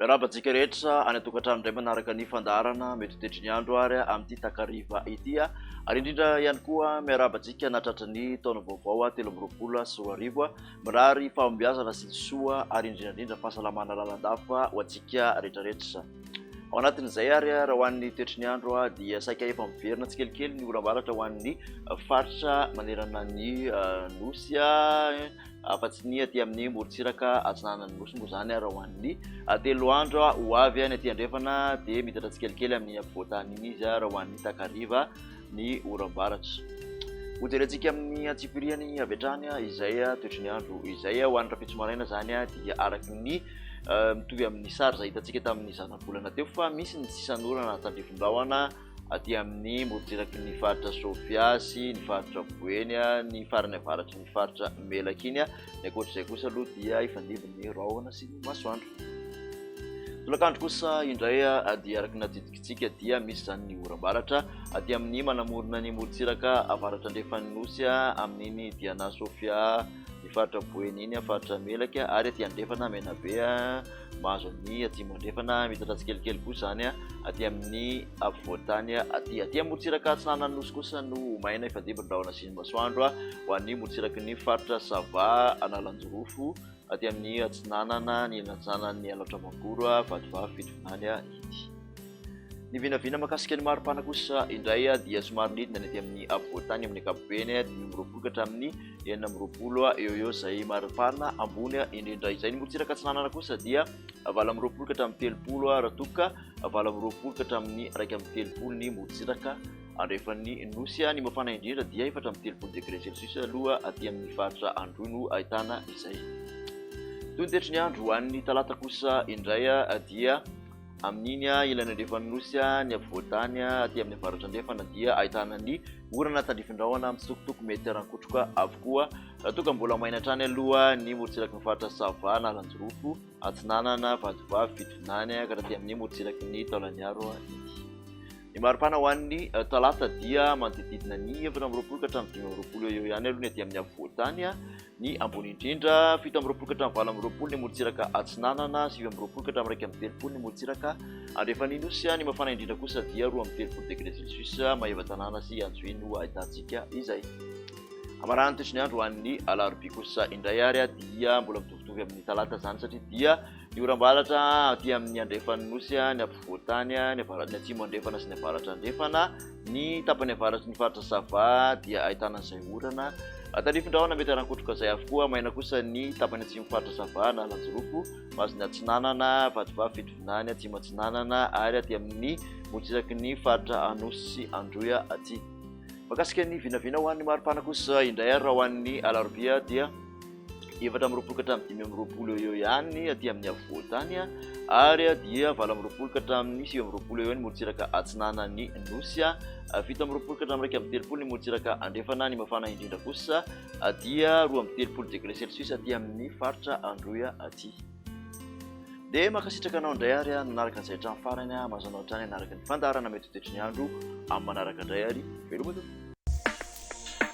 Miarahaba antsika rehetra any an-tokantrano indray manaraka ny fandaharana metotetry ny andro ary amin'ity takariva ity ary indrindra ihany koa miarahaba antsika nahatratra ny taona vaovao telo amby roapolo sy roa arivo. Mirary fahombiazana sy ny soa ary indrindra indrindra fahasalamana lalandava ho antsika rehetra rehetra. Ao anatin'izay ary raha ho an'ny toetry ny andro dia saika efa miverina tsikelikely ny oram-baratra ho an'ny faritra manerana ny nosy afa-tsy ny aty amin'ny morontsiraka atsinanan'ny nosy moa izany raha ho an'ny telo andro ho avy. Ny aty andrefana dia miditra tsikelikely amin'ny afovoan-tany iny izy raha ho an'ny takariva ny oram-baratra. Hojerentsika amin'ny antsipiriany avy hatrany izay toetry ny andro izay ho an'ny rapitso maraina izany dia araka ny mitovy amin'ny sary izay hitantsika tamin'ny zanabolana teo fa misy ny sisan'orana tandrifin-drahona aty amin'ny morontsiraky ny faritra Sofia sy ny faritra Boeny ny farany avaratry ny faritra Melaky iny ny ankoatr'izay kosa aloha dia ifandimby ny rahona sy ny masoandro. Tolakandro kosa indray dia araka ny Isika dia misy izany ny oram-baratra, aty amin'ny manamorona ny morontsiraka avaratra-andrefan'ny Nosy, amin'iny Diana Sofia, ny faritra Boeny iny, faritra Melaky, ary aty andrefana Menabe, mahazo an'ny atsimo-andrefana, mitatra tsikelikely koa izany aty amin'ny afovoan-tany aty. Aty amin'ny morontsiraka atsinanan'ny Nosy kosa no ho maina ifandimby ny rahona sy ny masoandro ho an'ny morontsiraky ny faritra Sava, Analanjirofo, aty amin'ny atsinanana nilatsana ny halatra Magoro, Vatovavy, Fitovinany ity. Ny vinavina makasika ny maripana kosa indray dia somary nidina ny aty amin'ny afovoantany amin'ny ankapobeny dimy amby roapolo ka hatramin'ny enina amby roapolo eo eo izay maripana ambony indrindra izay. Ny morontsiraka atsinanana kosa dia valo amby roapolo ka hatramin'ny telopolo raha toa ka valo amby roapolo ka hatramin'ny iraika amby telopolo ny morontsiraka. Andrefan'ny Nosy any mafana indrindra dia efatra amby telopolo degre celsius aloha aty amin'ny faritra Androy no ahitana izay. Toy ny tetry ny andro ho an'ny talata kosa indray dia amin'iny ilany andrefan'ny Nosy ny afovoan-tany aty amin'ny avaratra andrefana dia ahitana ny orana tandrifin-drahona mitsitokotoko mety harankotroka avokoa raha toa ka mbola maina hatrany aloha ny morontsiraky ny faritra Sava, Analanjirofo, Atsinanana, Vatovavy, Fitovinany ka hatraty amin'ny morontsiraky ny Taolagnaro ity. Ny maripana ho an'ny talata dia manodididina ny efatra amby roapolo ka hatramin'ny dimy amby roapolo eo eo ihany aloha ny aty amin'ny afovoan-tany, ny ambony indrindra, fito amby roapolo ka hatramin'ny valo amby roapolo ny morontsiraka atsinanana, sivy amby roapolo ka hatramin'ny iraika amby telopolo ny morontsiraka andrefan'ny Nosy, ny mafana indrindra kosa dia roa amby telopolo degre celsius, Maevatanàna sy Antsohihy no ahitantsika izay. Hamaran'ny toetry ny andro ho an'ny alarobia kosa indray ary dia mbola mitovitovy amin'ny talata izany satria dia Ny oram-baratra aty amin'ny andrefan'ny nosy, ny afovoan-tany, ny avaratr'ny atsimo-andrefana sy ny avaratra-andrefana, ny tapany avaratry ny faritra Sava dia ahitana an'izay orana. Tarifindrahona mety harankotroka izay avokoa, maina kosa ny tapany atsimon'ny faritra Sava Analanjirofo, Mazina Atsinanana, Vatovavy Fitovinany, Atsimo Atsinanana ary aty amin'ny morotsizaky ny faritra Anosy sy Androy aty. Mahakasika ny vinavina ho an'ny mari-pana kosa indray ary raha ho an'ny alarobia dia. efatra amby roapolo ka hatramin'ny dimy amby roapolo eo eo ihany aty amin'ny afovoan-tany ary dia valo amby roapolo ka hatramin'ny sivy amby roapolo eo ihany morontsiraka atsinanan'ny nosy fito amby roapolo ka hatramin'ny iraika amby telopolo ny morontsiraka andrefana ny mafana indrindra kosa dia roa amby telopolo degré celsius aty amin'ny faritra androya aty dia mankasitraka anao indray ary nanaraka an'izay hatramin'ny farany mazana hatrany hanaraka ny fandaharana mety ho toetry ny andro amin'ny manaraka indray ary veloma tompoko